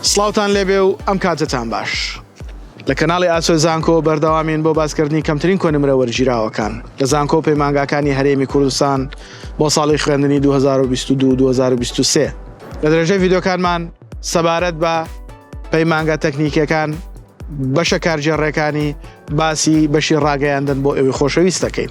سڵاوتان لێبێ و ئەم کاتەتان باش. لە کەناڵی ئاسۆی زانکۆ بەردەوامین بۆ باسکردنی کەمترین کۆنمرە وەرگیراوەکان لە زانکۆ و پەیمانگاکانی هەرێمی کوردستان بۆ ساڵی خوێندنی دوو هەزار و بیست و دوو دوو هەزار و بیست و سێ لە درێژەی ڤیدیۆکانمان سەبارەت بە پەیمانگا تەکنیکیەکان بەشە کارگێڕێکانی باسی بەشی ڕاگەیاندن بۆ ئێوەی خۆشەویست دەکەین.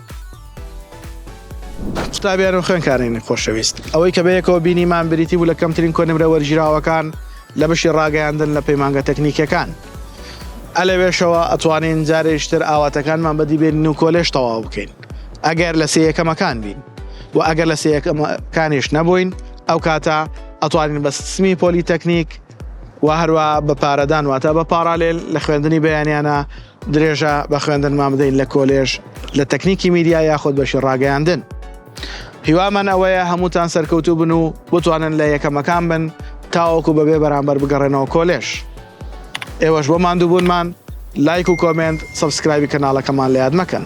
قوتابیان و خوێندکارانی خۆشەویست، ئەوەی کە بەیەکەوە بینیمان بریتی بوو لە کەمترین کۆ نمرە وەرگیراوەکان لە بەشی ڕاگەیاندن لە پەیمانگە تەکنیکیەکان. ئە لەوێشەوە ئەتوانین جارێکیش تر ئاواتەکانمان بەدی بێنین و کۆلێژ تەواو بکەین ئەگەر لە سێ یەکەمەکان بین و ئەگەر لە سێ یەکەمەکانیش نەبووین ئەو کاتە ئەتوانین بە سمی پۆلی تەکنیک و هەروە بە پارەدان واتە بە پاڕالێل لە خوێندنی بەیانیانە درێژە بە خوێندنمان بدەین لە کۆلێژ لە تەکنیکی میدیا یاخود بەشی ڕاگەیاندن هیوامان ئەوەیە هەمووتان سەرکەوتوو بن و بتوانن لە یەکەمەکان بن تاوەکو بەبێ بەرامبەر بگەڕێنەوە کۆلێژ ئێوەش بۆ ماندووبوونمان لایک و کۆمێنت سەبسکرایبی کەناڵەکەمان لە یاد مەکەن.